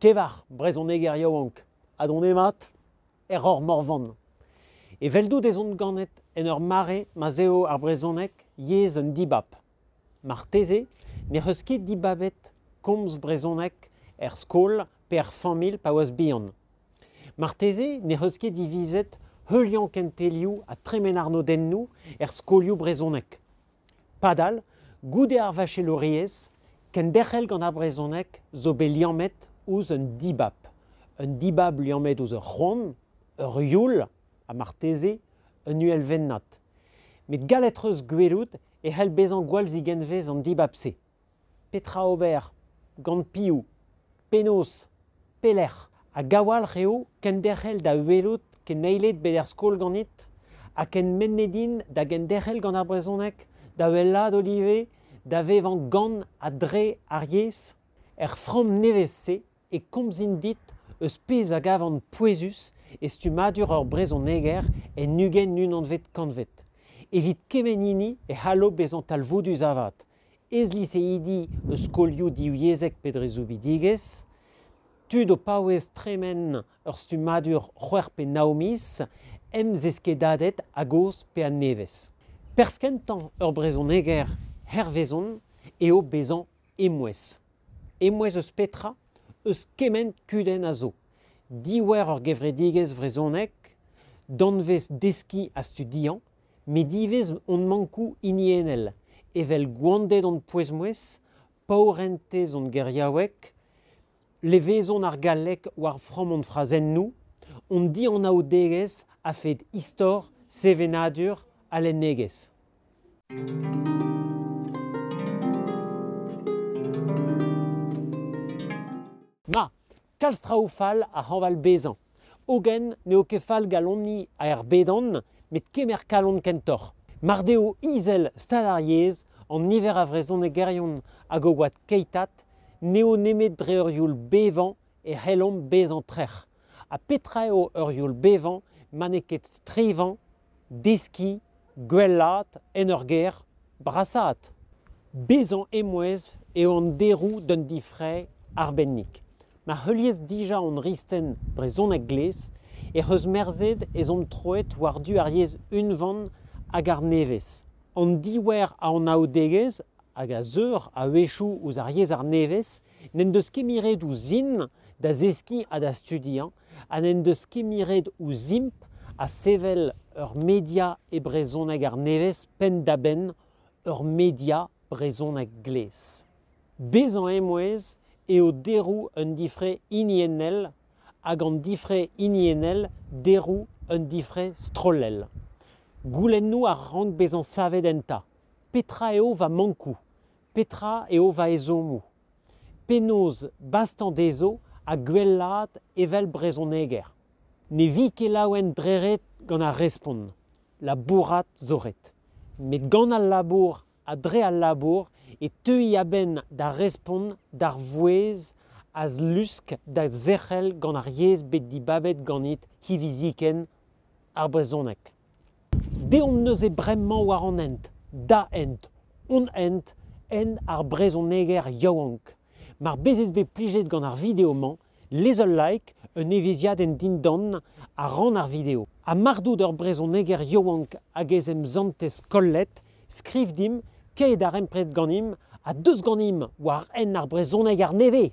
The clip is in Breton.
Kevar, brezhoneger yaouank ha donemat, er Roc'h Morvan. Eveldout ez on ganet en ur mare ma'z eo ar brezhoneg yezh un dibab. Marteze n'ec'h eus ket dibabet komz brezhoneg er skol pe er familh pa oas bihan. Marteze n'ec'h eus ket divizet heuliañ kentelioù ha tremen arnodennoù er skolioù brezhonek. Padal, goude ar vachelouriezh, kenderc'hel gant ar brezhoneg zo bet liammet ouzh un dibab. Un dibab liammet ouzh ur c'hoant, ur youl ha marteze un uhelvennad. Met gallet 'treus gwelout e c'hell bezañ gwall zigenvez an dibab-se. Petra ober gant piv? Penaos? Pelec'h? Hag a-walc'h eo kenderc'hel da welout keneiled bet er skol ganit? Ha kenmennet int da genderc'hel gant ar brezhoneg, da wellaat ivez, da vevañ gant ha dre ar yezh? Er framm nevez-se e komzin dit eus pezh a gavan pouezus e stummadur ur brezhoneger en ugent unanvet kantved. Evit kement hini e c'hallo bezañ talvoudus avat, ez-liseidi eus skolioù divyezhek pe dre soubidigezh, tud o paouez tremen ur stummadur c'hwec'h pe nav miz, emzeskedadet a-gozh pe a-nevez. Perzh kentañ ur brezhoneger hervezon eo bezañ emouez. Emouez eus petra? Eus kement kudenn a zo. Diouer ur gevredigezh vrezhonek, danvez deskiñ ha studiañ, met ivez hon mankoù hiniennel, evel gwanded hon pouez-mouezh, paourentez hon geriaoueg, levezon ar galleg war framm hon frazennoù, hon dianaoudegezh a-fed istor, sevenadur ha lennegezh. Ma, kalz traoù fall a hañval bezañ. Hogen n'eo ket fall galoniñ er bedan, met kemer kalon kentoc'h. Mar deo izel stad ar yezh, an niver a vrezhonegerion hag o oad keitat, n'eo nemet dre ur youl bevañ e c'hellomp bezañ trec'h. Ha petra eo ur youl bevañ ma n'eo ket strivañ deskiñ gwellaat en ur gêr brasaat. Bezañ emouez eo an deroù d'un difrae arbennik. Ma heuliez dija hon risten brezhonek glez ec'h eus merzet ez omp troet war-du ar yezh unvan hag ar nevez. An diouer a anaoudegezh hag a zeur a-wechoù ouzh ar yezh arnevez n'en deus ket miret ouzhin da zeskiñ ha da studiañ ha n'en deus kimiret ouzhimp ha sevel ur media e brezhoneg arnevez penn-da-benn ur media brezhoneg glez. Bezañ emouez eo deroù un difre hiniennel hag an difre hiniennel deroù un difre strollel. Goulennoù a rank bezañ savet enta. Petra eo va mankoù? Petra eo va ezhommoù? Penaos bastañ dezho ha gwellaat evel brezhoneger? Ne vi ket laouen dre ret gant ar respont, labourat zo ret. Met gant al labour ha dre al labour e teuy a-benn da respont d'ar vouezh a zlusk da zerc'hel gant ar yezh bet dibabet ganit hiviziken, ar brezhoneg. Deomp neuze bremañ war an hent, da hent, hon hent, hent ar brezhoneger yaouank. Mar bezez bet plijet gant ar video-mañ, lez ul like, un evezhiadenn dindan ha ran ar video. Ha mar dout ur brezhoneger yaouank hag ez emsantez kollet, skriv dimp kae darempred ganimp ha deus ganimp war hent ar brezhoneger nevez!